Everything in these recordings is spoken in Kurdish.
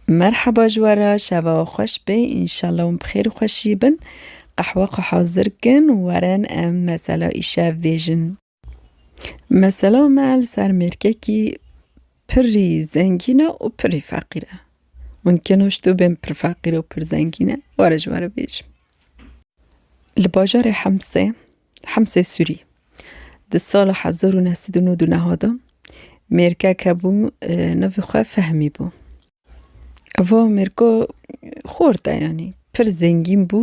Merheba ji we re şeva we xweş be înşallah hûn bi xêr û xweşî bin. Qehwe xwe hazir kin û werin em mesela îşev bêjin. Mesela me li ser mêrkekî pirrî zengîn e û pirrî feqîr e. Mumkin o ji to bên pirr feqîr û pirr zengîn e. Were ji we re bêjim. Li bajarê Hemsê, Hemsê Sûrî, di sala hezar û neh sed û nod û neha de mêrgek hebû navê xwe Fehmî bû. Ev mêrg xort e yanî pir zengîn bû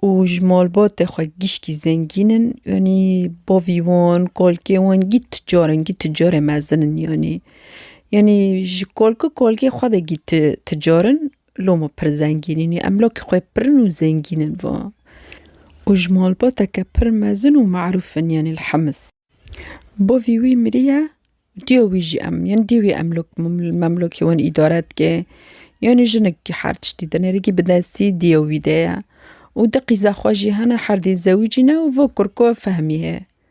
û ji malbatê xwe gişkî zengîn in yanî bavî wan kalkê wan gît ticar in gît ticarê mezin in yanî yanî ji kalki kalkê xwe de gît ticar in. Lo me pir zengîn in. Em lo ki xwe pirin û zengîn in va. Û ji malbateke pir mezin û merûf in yanî li Hims. Bavî wî miriye û dêya wî jî em yanî dêya wî em lo li memlokê wan îdare dike. Yanî jinikî her tiştî di nerîgî bi destî dêya wî de ye. Û di qîza xwe jî hene herdê zewicî ne û va kurko fehmî ye.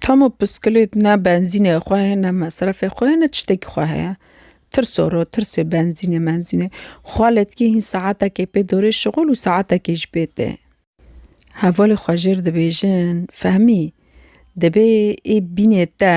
Tamo piskulît ne benzînê xwe heye ne mesrefê xwe heye ne tiştekî xwe heye. Tirsoro tirsê benzînê menzînê xwaletgî hîn saetekê pê dorê şixul û saetekê ji pê tê. Hevalê xwe jêr dibêjin fehmî dibê ê bînê te.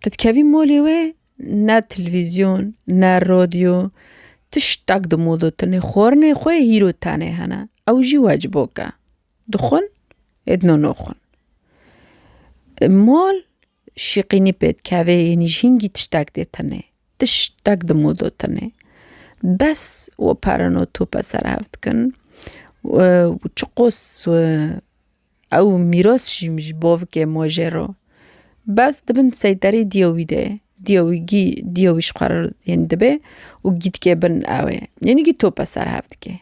Tu dikevî molê wê ne televîzyon ne rodyo tiştek di mola te ne xwarinê xwe yê hîro tenê hene ew jî wecibok e. Dixwin ê di no naxwin. Mol şîqînî pê dikevê yanî ji hingî tiştek dê tenê tiştek di mola te ne bes we pereno tope ser hev dikin û çiqos Ew mîros jî ji bo bike mojê ro. Bes di bin seyterê diya wî de ye. Diya wî gî diya wî ji xwe re yên dibe û gî dike bin ew ê. Yanî gî tope ser hev dike.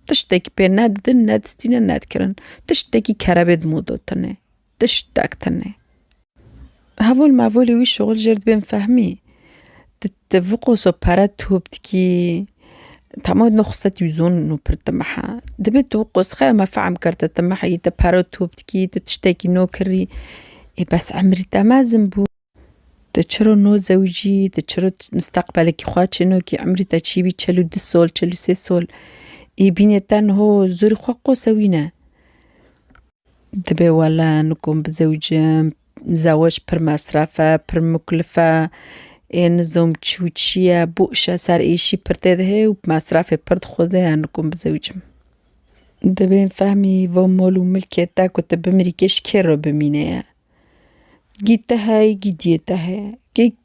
Tiştekî pê ne didin, ne distîne, ne dikirin. Tiştekî kerebê di moda tune. Tiştek tune. Hevol mevolê wî şixul jêr dibên fehmî. Ti ti viqoso pere top dikî tamo no xise tî zon no pir ti meha. Dibê tu qos xe me fehm kir ti ti meha yî ti pere top dikî ti tiştekî no kirî ê bes emrî te mezin bû. Ti çiro no zewicî ti çiro misteqbelekî xwe çêno kî emrî te çî bî çil û du sol çil û sê sol ê bînê te niho zorî xwe qose wî ne. Dibe wele nikom bizewicim, zewec pir mesref e, pir muklif e. Ê nizom çi û çi ye, bo îşe ser êşî pir têdihê û mesrefê pir dixweze ya nikom bizewicim. Dibe fehmî van mal û milkê te ku tu bimirî kê ji kê re bimîne ye. Gî te heye gî diyê te heye. Gê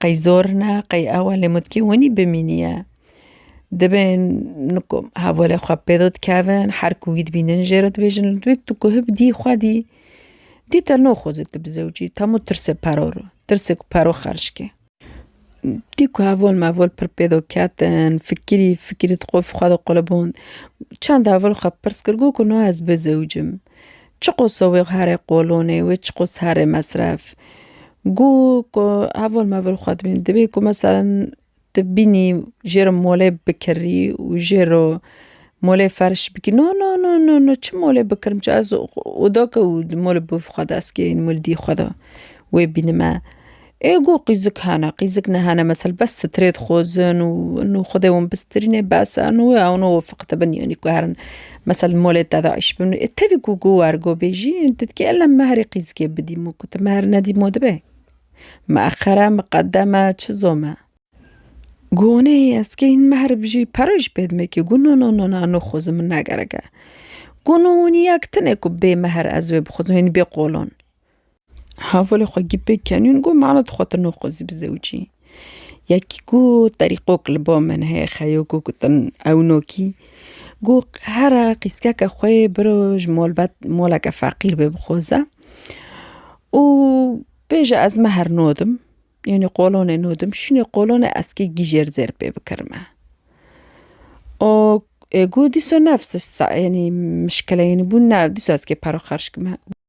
Qey zor ne, qey ew e lê mutkê winî bimîniye. Dibê niku hevalê xwe pê do dikevin, her ku wî dibînin jê re dibêjin li duyek tu guhib dî xwe dî, dî te noxoze tu bi zewcî temo tirsê pero re, tirsê ku pero xerc ke. Dî ku heval meval pir pê do ketin, fikirî fikirî dixwe xwe diquliband. Çend heval xwe pirs kir gotin no ez bizewcim. Çiqo sowîq herê qolonê wê çiqos herê mesref. Gu ku hevol mevol xwe dibîn dibê ku meselen tu bînî jê re molê bikirî û jê re molê ferş bikî no no no no no çi molê bikirim çi ez oda ke û molê bû xwe dest kê molê dî xwe de wê bînime. Ê got qîzik hene, qîzik nehene mesel bes strê dixwazin û nû xwedê wan bistrînê bes e nû wê ewno wê fiqite bin yanî ku herin mesel molê te de îş bin. Ê tevî ku got wergo bêjî tu dikî ella min meherê qîzikê bidî min got tu meher nedî ma dibe mieqere miqedeme çi zome. Got neyê ez kê hîn meher bijî pere jî pê dime kî got no no no na nixwazim min negerek e. Got no hûnî yek tune ku bê meher ez wê bixwazim hînî bê qolan. Havolê xwe gî pê kenûn got mala tu xwe tu noxozî bi zewcî. Yekî got terîqok li ba min heye xeyo ku gotin ewnokî. Got here qîskeke xwe yê biro ji malbat maleke feqîr bê bixoze û bêje ez mehr nadim yanî qolonê nadim şûnê qolonê ez kê gîjêr zêr pê bikirim me. O ê got dîsa nefs yanî mişkile yanî bûn ne dîsa ez kê pere xerc kime.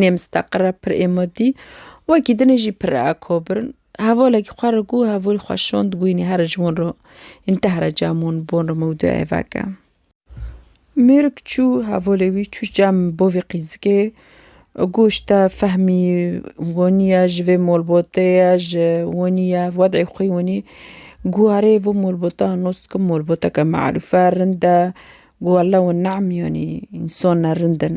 Nê misteqir e pir êmodî, wekî dinê jî pir re akobirin. Hevalekî xwe re gû hevolî xwe şand gû înê here ji wan re ên teh re cem wan bi wan re mewdu ev veke. Mêrik çû hevalê wî çû cem bavê qîzikê goş te fehmî wanî ye ji vê malbatê ye ji wanî ye wedê xwe wanî gû erê vê malbata nas dikim malbateke me'rûfe rind e gû wele wan namyanî însan ne rind in.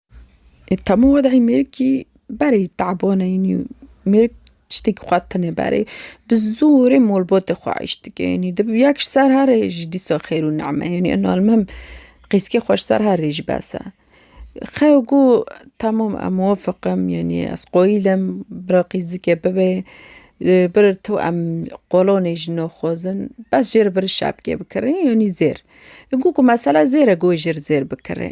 Tam û wedî mêrikî berê te'bane înî mêrik tiştekî xwe tune berê bi zorê malbatê xwe eîş dike înî di bi yek ji ser herê jî dîsa xêr û name ye înî almim qîskê xwe ji ser herê jî bes e. Xew û ku temam em muwafeq im yenî ez qayîl im bira qîz zikê bibe bir tu em qolanê jî naxwazin bes jê re bir şapkê bikirê yenî zêr. Gûku mesela zêr e ku wê jê re zêr bikirê.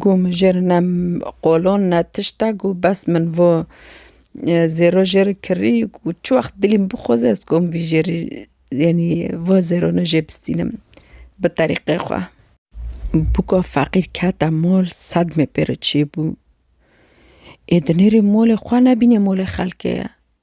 Gû mijêr ne qolon ne tişt e gû bes min vo zêro jê re kirî gû çi wext dilê min bixwaze ez dikom vî jê rî yanî vo zêrone jê bistînim bi terîqê xwe. Buka feqîr kete mol sedmê pê re çêbû. Ê di nêrê molê xwe nebînê molê xelkê ye.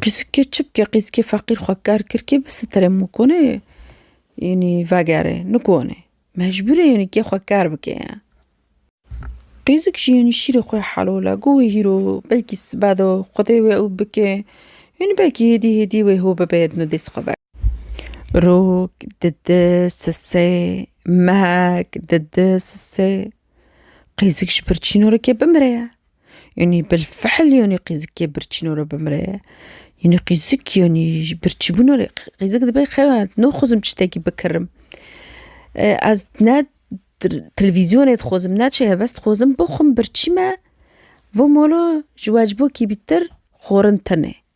Pisîkê çipkê qîzkê feqîr xwe ker kir kê bisitirê min konê yanî vegerê nikonê mecbûrê yanî kê xwe ker bike ye. Qîzik jî yanî şîrê xwe helole got wê hîro belkî sibe do xwedê wê ew bike yanî belkî hêdî hêdî wê ho bibe ya dino dest xwe veke. Rok, didi, sise, mehek, didi, sise, qîzik ji birçîno re kê bimire ye. Yanî bilfihl yanî qîzikê birçîno re bimre ye. Yanî qîzik yanî ji birçîbûna re qîzik dibe xewa naxwazim tiştekî bikirim. Ez ne televîzyonê dixwazim ne çi helbest dixwazim bixwim birçîme bo mala ji wecbokî bîtir xwarin tune.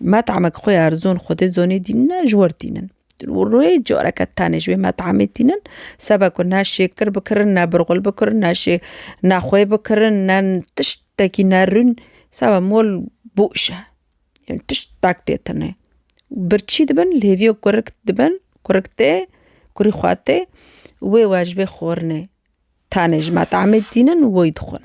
Met'amek xwe erzon Xwedê zonê dînine ji wir tînin. Rûyê careke tenê ji wê met'amê tînin sebe ku ne şêkir bikirin ne birxul bikirin ne şê ne xwê bikirin ne tiştekî ne rûn sebe mol boş e. Yan tişt pek tê tenê. Birçî dibin li hêviya kurik dibin kurik tê kurî xwe tê wê we ji wê xwarinê tenê ji met'amê tînin û wê dixwin.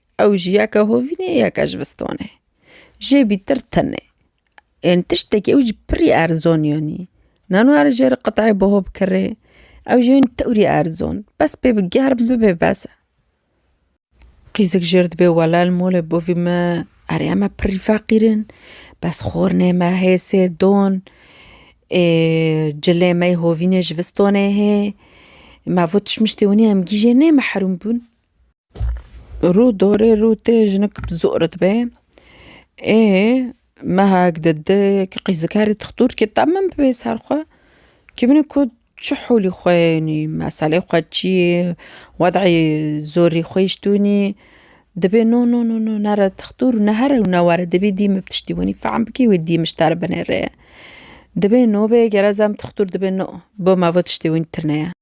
Ew ji yeke hovînê yeke ji vistanê jê bîtir tune. Ên tiştekî ew jî pirî erzan yanî. Nano ere ji êrê qiteyê biho bikirê ew jî yanî tewrî erzan bes pê bi germ bibe bes e. Qîzik jêr dibê wele li malê bavî me erê em pirî feqîr in bes xwarinê me hê sê don ê cilê me yê hovînê ji vistanê hê me vat tişt miştê wanî em gîjê nê mihrûm bûn. Rû dorê rû tê jinik zor dibe ê mehek di di ki qîzikeri dixtur ki te min bibê ser xwe ki min ku çi holî xwe yenî meselê xwe çi yê wedeyê zorî xwe yî ji dû nî dibê no no no no nere dixtur û nehere û newere dibê dî min bi tiştî winî fehm bikî wê dî min ji te re binêre dibê no bê gere zam dixtur dibê no bo me bo tiştê winî tune ye.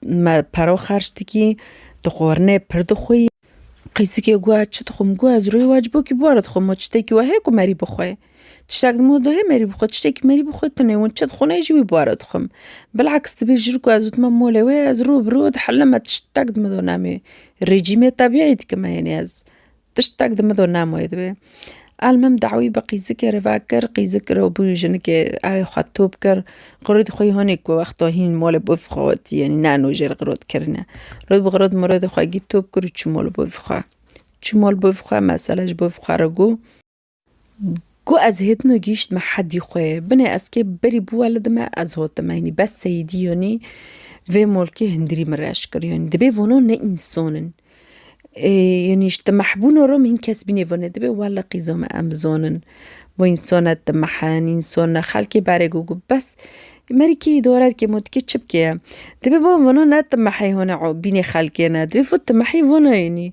Me paro xerç dikî, tu xwarinê pir dixwî. Qîsikê goya çi dixwim? Goya ez rûyê wa ji bo kî bûara dixwim û tiştekî wa heye ku merî bixwe. Tiştek dima dû heye merî bixwe, tiştekî merî bixwe tune win çi dixwin ê jî wî bûara dixwim. Bilhaks dibê ji ber ku ez dima molê wê ez rû bi rû dihelim me tiştek dima dû namê. Rejîmê tebîî dikim e, yanî ez. Tiştek di mido Nemoyê de be. Elmim dawî bi qîzikê re vekir, qîzik re bû jinikê evê xwe top kir. Qirûd xwe yî honê ku wexta hîn mol bo vî xwe got, yanî nano jê re qirûd kirine. Rûd bi qirûd mirodê xwe gît top kir û çû mol bo vî xwe. Çû mol bo vî xwe, mesela ji bo vî xwe re got. Ku ez hêtin û gihîştime hedî xwe, binê ez kê berî bûwe li dime ez hotime. Yanî bes seyîdî yanî vê molkê hindirî min reş kir. Yanî dibê vano ne însan in. Yanî ji timehbûna re min hîn kes bînê binê dibê wele qîza me em bizanin bo însan ne timehe ne însan ne xelkê berê ku bes merikê îdare dike ma dikê çi bike. Dibê wan vano ne timehê hone bînê xelkê ne dibê vat timehê vana yanî.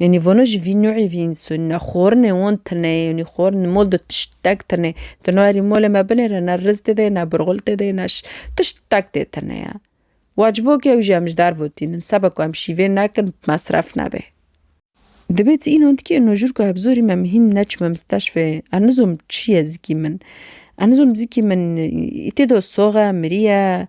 Yanî vano jî vî nûî vî însanî ne. Xwarinê wan tune ye, yanî xwarin li mal de tiştek tune. Di nûerî malê me binêre ne riz tê de ye, ne birxûl tê de ye, ne şi tiştek tê tune ye. Wecibo ke ew jî em ji derve ve tînin sebe ku em şîvê nekin mesref nebe. Divê tu înan dikî înan jûr ku hebzorî me min hîn neçime misteşfê ez nizom çi ye zikî min. Ez nizom zikî min î tê de soxe, mirî ye.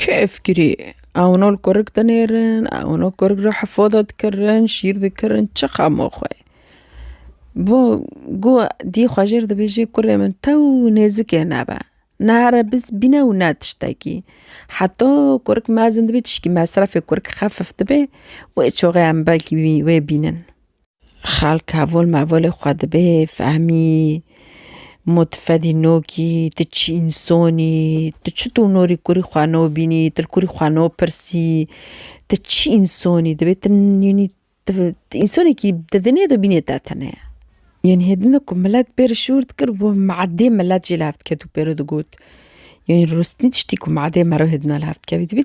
Keyf kirî ewno li kurik dinêrin ewno kurik re hefoda dikirin şîr dikirin çi xema xwe bo ku dî xwe jê re dibêje kurê min tew nêzikê nebe nare biz bîne û ne tiştekî heta kurik mezin dibe tişkî mesrefê kurik xefif dibe wê çaxê em belkî wê bînin. Xalk hevol mevolê xwe dibe fehmî mû tu fedî no kî, tu çi însanî, tu çi donorî kurî xwe no bînî, tu li kurî xwe no pirsî, tu çi însanî divê tu yanî tu tu însanekî di dinê de bînê te tenê. Yanî hêdin de ku milet bê re şûr dikir bo madê milet jê li hev diketû pê re digot, yanî rûstî tiştî ku madê meriv hêdina li hev dikevî divê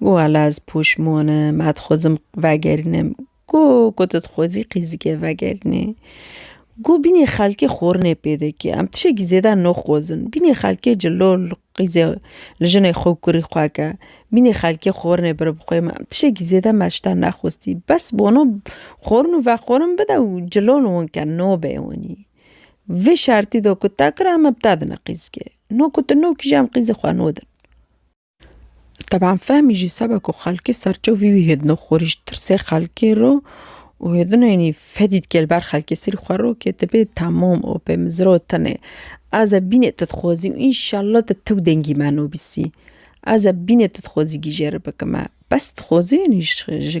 Go hala ez poşmon im, ez dixwazim vegerînim. Go ku tu dixwazî qîzikê vegerînî. Go bînî xelkê xwarinê pê dike. Em tişekî zêde naxwazin. Bînî xelkê ji lo li qîzê li jinê xwe û kurê xwe ke. Bînî xelkê xwarinê bire bixwe me. Em tişekî zêde me ji te nexwestî. Bes wano xwarin û vexwarin bide û cilal wan ke nabe wanî. Vê şertî de ku te kir em bi te dine qîzikê. No ku tu nakî jî em qîzê xwe nadin. Teban fehmî jî sebe ku xelkê serçe wî wî hêdino xwurîş tirsê xelkê ro û hêdino yanî fedî dike li ber xelkê serî xwe ro kê tu bê temam û pê min ziro tenê ez ê bînê tu dixwazî û înşellah tu tew dengî me nûbîsî ez ê bînê tu dixwazî gîjê re bikime bes dixwazê yanî ji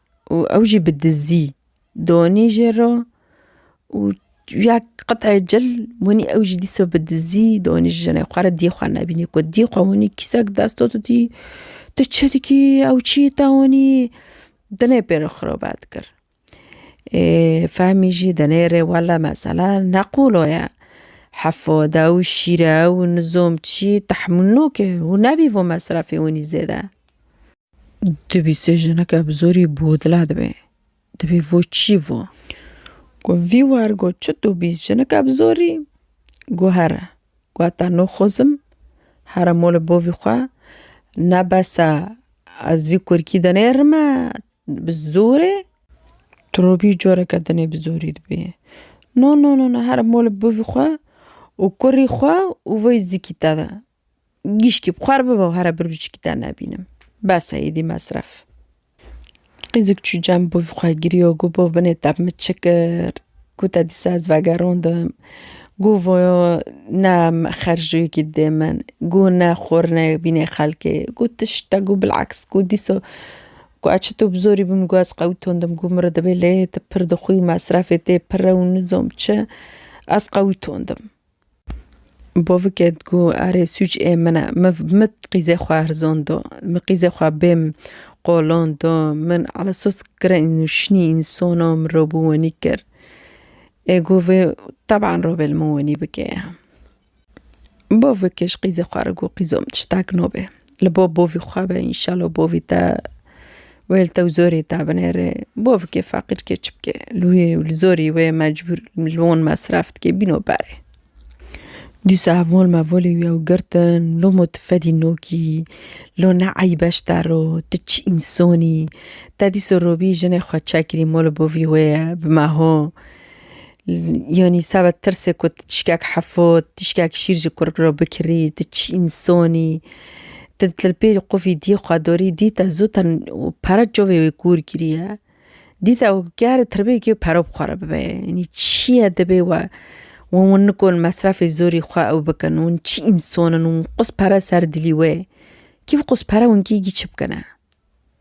û ew jî bi dizî donî jê re û ya qit'e cil winî ew jî dîsa bi dizî donî ji jinê xwe re dî xwe nebînî ku dî xwe winî kîsek desta didî tu çi dikî ew çi yê te winî dinê pê re xirobet kir. Ê fehmî jî dinê rê wele mesela ne qolo ye hefo de ew şîre ew nizom çi tehmûl nake û nebî vo mesrefê winî zêde. Dibîse jineke bi zorî bodile dibe. Dibê vo çî vo? Go vî war go çi tu bîs jineke bi zorî? Go here. Go heta no xozim here mo li bovî xwe. Ne bese ez vî kurikî de nêrime bi zorê. Tu robî coreke dinê bi zorî dibê. No no no no here mo li bovî xwe û kurî xwe û vê zikî te de. Gîşkî bi xwe re bibe û here bir biçîkî te nebînim. Bes e êdî mesref. Qîzik çû cem bû xwe giriyo got bo binê te min çi kir? Got te dîsa ez vegerandim. Got voyo ne xerjoyekî didê min. Got ne xurine bînê xelkê. Got tişta got bilaks got dîsa got ez çito bi zorî bim got ez qewitandin got min re divê lê tu pir dixwî û mesrefê tê pir e û nizam çi ez qewitandin. Bovike digo erê sûc ê min e. Min min qîzê xwe hirzon do. Min qîzê xwe bêm qolon do. Min ala sos kirên û şinî ên sono min ro bi wenî kir. Ê go vê teban ro bê li min wenî bike ye. Bovike ji qîzê xwe re go qîzo min tiştek nobe. Li bo bovî xwe be înşela bovî te Wê li tew zorê da binêre. Bo bike feqîr ke çi bike. Li wê û li zorî wê mecbûr li wan mesref dike bîno berê. Dîsa ev wan me volê wî ew girtin loma tu fedî nokî lo ne eybe ji te re tu çi însanî te dîsa robî jinê xwe çekirî mala bavî wê ye bi meha Yanî sebet tirsê ku tu tişkek hefo, tişkek şîr ji kurp re bikirî, tu çîn sonî, tu li pêrî qufî dî xwe dorî, dî te zû ten û pere çavê wê kûr kiriye. Dî te ger tirbê kê pere bi xwe re bibe ye. Yanî çiye dibê we wan nikon mesrefê zorî xwe ew bikin, wan çîn sonin, wan qus pere ser dilî wê. Kî bi qus pere wan kî yî çi bikine?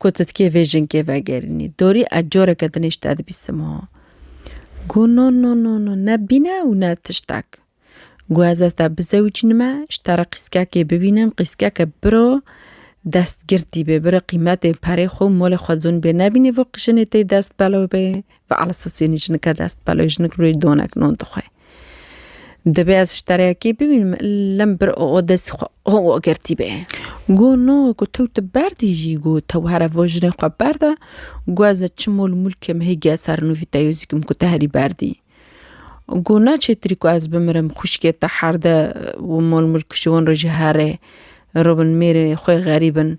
Ku tu dikê vê jinkê vegerînî. Dorî ez coreke din îş te dibîsim ha. Got no no no no ne bîne û ne tiştek. Got ez ez te bizewicînime ji te re qîskekê bibînim qîskeke biro destgirtî bê biro qîmetê perê xwe û molê xwe zon bê nebînî vok jinê tê dest belo bê. Feala sosîyonî jinike dest peloyê jinik rûyê donek non dixwe. Divê ez ji tereyekê bimînim lim bir o destî xwe o girtî bê. Go no ku tew tu berdî jî go tew here vo jinê xwe berde go ez e çi mol mulkê min hê giya ser nûvî te yozîkim ku te herî berdî. Go na çêtirî ku ez bimirim xwişkê te herde û mol mulk ji wan re jî herê. Robin mêrê xwe xerîbin.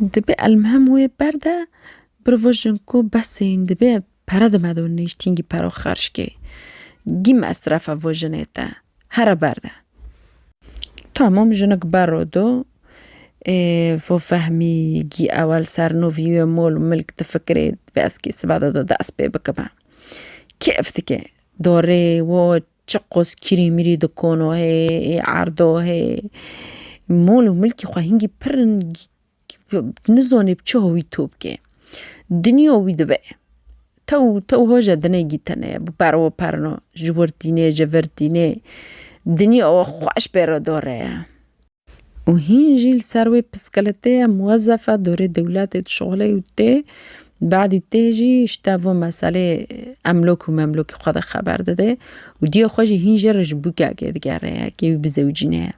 Dibe elmhem wê ber de birvejin ku besê yin dibe pere dime do nêştîn gî pero xerc kê. Gî mesrefe vo jinê te here ber de. Tamam jinik bero do ê vo fehmî gî ewel ser no vîyûyê mol û milk difikirê dibe ez kê sibe de do dest pê bikime. Kêf dike do rê wo Çi qos kîrî mîrî di kono hê, ê erdo hê. Mol û milkî xwe hingî pir in nizanê bi çi hawî to bike. Dinya wî dibe. Tew tew hoje dinê gîtene bi perwa perna ji wir tîne ji vir tîne dinya we xweş pêro dore ye. û hîn jî li ser wê piskeletê ye, muwezzef e, dorê dewletê dişuxile û tê bedî tê jî ji tevû meselê emlok û memlokê xwe de xeber dide û diyê xwe jî hîn jê re ji bûkekê digere yekê wî bi zewcî ne ye.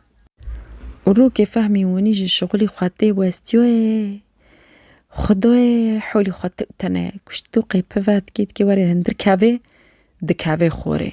Û rokê fehmî winî ji şixulî xwe tê westiyoyê xudoyê holî xwe tewtene kuşt û qê pive dikê dikê were hindir kevê dikeve xorê.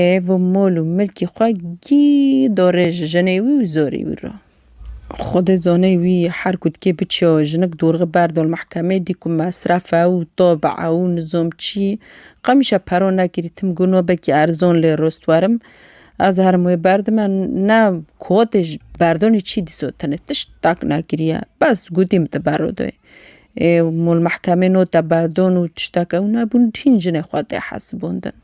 Ê vî mol û milkî xwe gî dorê ji jinê wî û zorê wî re. Xwedê zonê wî her ku dikê biçiyo jinik dorxi ber dol mehkemê dî ku mesref e û to bi ew nizom çî qemişe pero nekirî tim got no belkî erzon lê rost werim ez herim wê berdime ne kotê berdonê çî dîso tenê tişt tak nekiriye bes gotî min te berro doyê. û li mehkemê nota berdon û tiştek ew nebûn hîn jinê xwe tê hesibondin.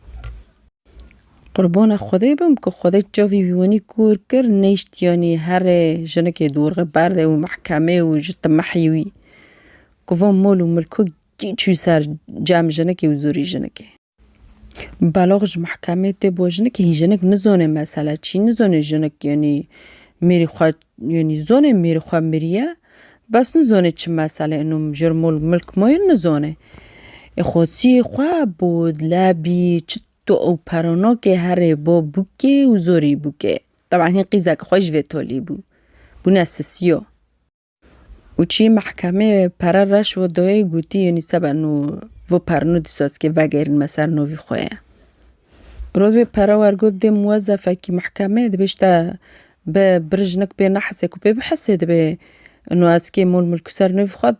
Qurbana Xwedê bim ku Xwedê çavî wî wenî kûr kir neyştiyanî herê jinekê dorxe berdê û mehkemê û ji timehî wî ku van mol û milko kî çû ser cem jinekê û zûrî jinekê. Belaq ji mehkemê tê bo jinik hîn jinik nizone mesele çî nizone jinik yanî mêrî xwe yanî zone mêrî xwe miriye bes nizone çi mesele ino mijara mol milk ma ye nizone. Ê xwesiyê xwe bo lebî çi to ew pere nake herê bo bûkê û zorî bûke. Teban hîn qîzeke xwe ji vê tolî bû bûne sisiyo. Û çî mehkemê pere reş û doyê gotî yenî sebe no vo per no dîsozkê vegêrin me ser no vî xwe ye. Roz wê pere wer got dê muwezefekî mehkemê dibê ji te bi birjinik bê nehesê ku pê bihesê dibê no ez kê mol milk û ser no vî xwe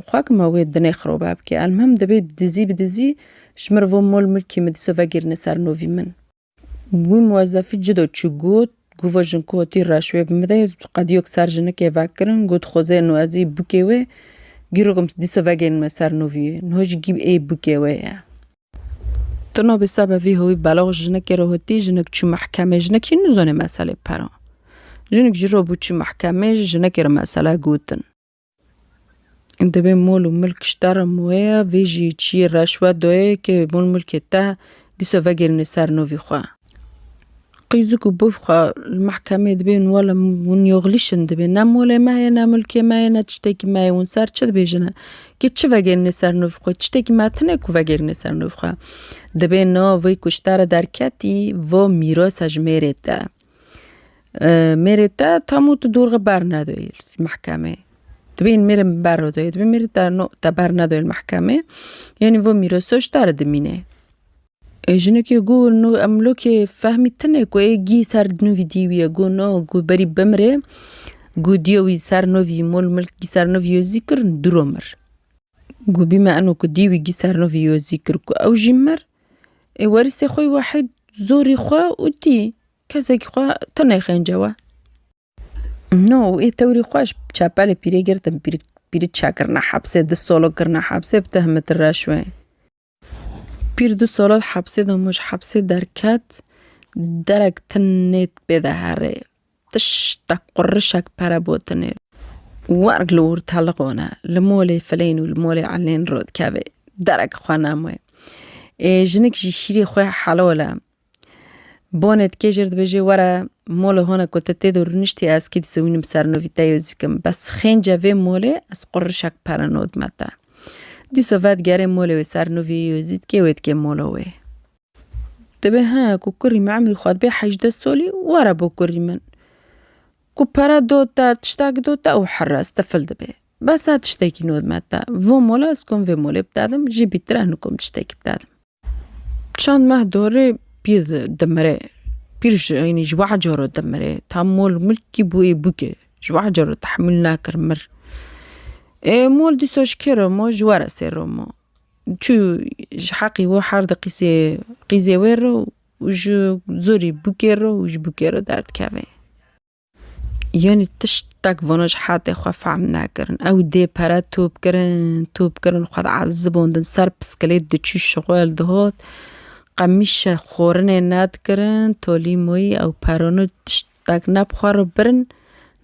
xwe kima wê dinê xiroba bikê. Elmuhim dibê dizî bi dizî ji min re vo mol milkê min dîso vegêrine ser no vî min. Wî muwezefî cido çû got, Gova jin ku tî reş wê bimire, qediyok ser jinikê vekirin, got xwezê no ez ê bûkê wê gîrokim dîsa vegênime ser no vîyê. Niha jî gîv ê bûkê wê ye. Tina bi sebe vî hewî belax jinikê re hotî, jinik çû mehkemê, jinik hîn nizanê meselê pera. Jinik jî re bû çû mehkemê, jinikê re mesele gotin. Divê mol û milk ji te re wê ye, vê jî çiyê reşwet dayê kê mol milkê te dîsa vegêrînê ser navî xwe. Qîzik û biv xwe li mehkemê dibên wele hûn yoxlîşin divê ne molê me ye ne milkê me ye ne tiştekî me ye hûn ser çi dibêjin kê çi vegêrînê ser navî xwe tiştekî me tune ku vegêrînê ser navî xwe. Divê nav wê ku ji te re derketî va mîrasa ji mêrê te. mêrê te tam û tu dorxe bernedoyê li mehkemê. Dibên mêrê min bernedoyê dibê mêrê te no te bernedoyê li mehkemê yanî vê mîros soçda re dimîne. Ê jinekê ku no em lokê fehmî tune ku ê gî ser nû vî dî wî ye ku no ku berî bimirê ku dîya wî ser no vî mol milk gî ser no vî yo zî kir dûro mir. Ku bîme eno ku dî wî gî ser no vî yo zî kir ku ew jî mir Ê werîsê xwe wahid zorî xwe û tî kesekî xwe tenê xênce we. No ê tewrî xwe ji çepelê pîrê girtin pîrê pîrê çek kirine hepsê du solo kirine hepsê bi tehmeti reşwê. Pîr du solo hepsê de ji hepsê derket derek tenê pê de herê. Tiştek qurişek pere botinê û werg li wir teliqone, li molê filên û li molê elên ro dikeve, derek xwe name. Ê jinik jî şîrê xwe helole. Bonê dike jêr dibêje, were mola hona ku te tê de rûniştî ez kî dizewînim ser nû vî te yoz dikim. Bes xênce vê molê ez qurişek pere nodime te. Dîso vedigere molê wê ser nû vî yozî dikê wê dikê mola wê. Dibe he ku kurî min emrî xwe dibe hejdeh solî were bo kurî min. Ku pere dot te tiştek dot te ew hires tifil dibe. Bes e tiştekî nod me te. Vo mola ez kom vê molê bidedim jî bîtir e nikom tiştekî bidedim. Çend meh dorê pîr dimire. Pîr ji yanî ji weh caro dimire. Tam mol milkî bû ê bûke. Ji weh caro tehmûl nekir mir. Ê mol dîsa ji kê re ma ji were sê re ma. Çû ji heqî wê her di qîzê qîzê wê re û ji zorî bûkê re û ji bûkê re derdikeve. Yanî tiştek vana ji hetê xwe fehm nekirin. Ew dê pere top kirin, top kirin xwe diezibandin ser piskilêt diçû şixwel dihat. Qemîşe xwarinê nedikirin, tolî moyî ew perone tişt Dak ne bi xwe re birin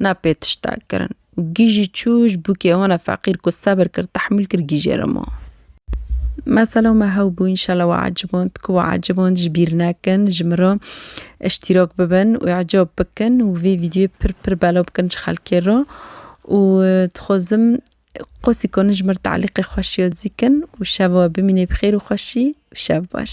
ne pê tiştek kirin û gîj jî çû ji bûkê hone feqîr ku sebir kir tehmûl kir gîjê re ma. Mesela me hew bû înşela we eciband ku we eciband ji bîr nekin ji min re îştîrak bibin û ecab bikin û vê vîdyoyê pir pir belav bikin ji xelkê re û dixwazim qasî kanin ji min re telîqê xweşiya zî kin û şeva we bimîne bi xêr û xweşî û şev baş.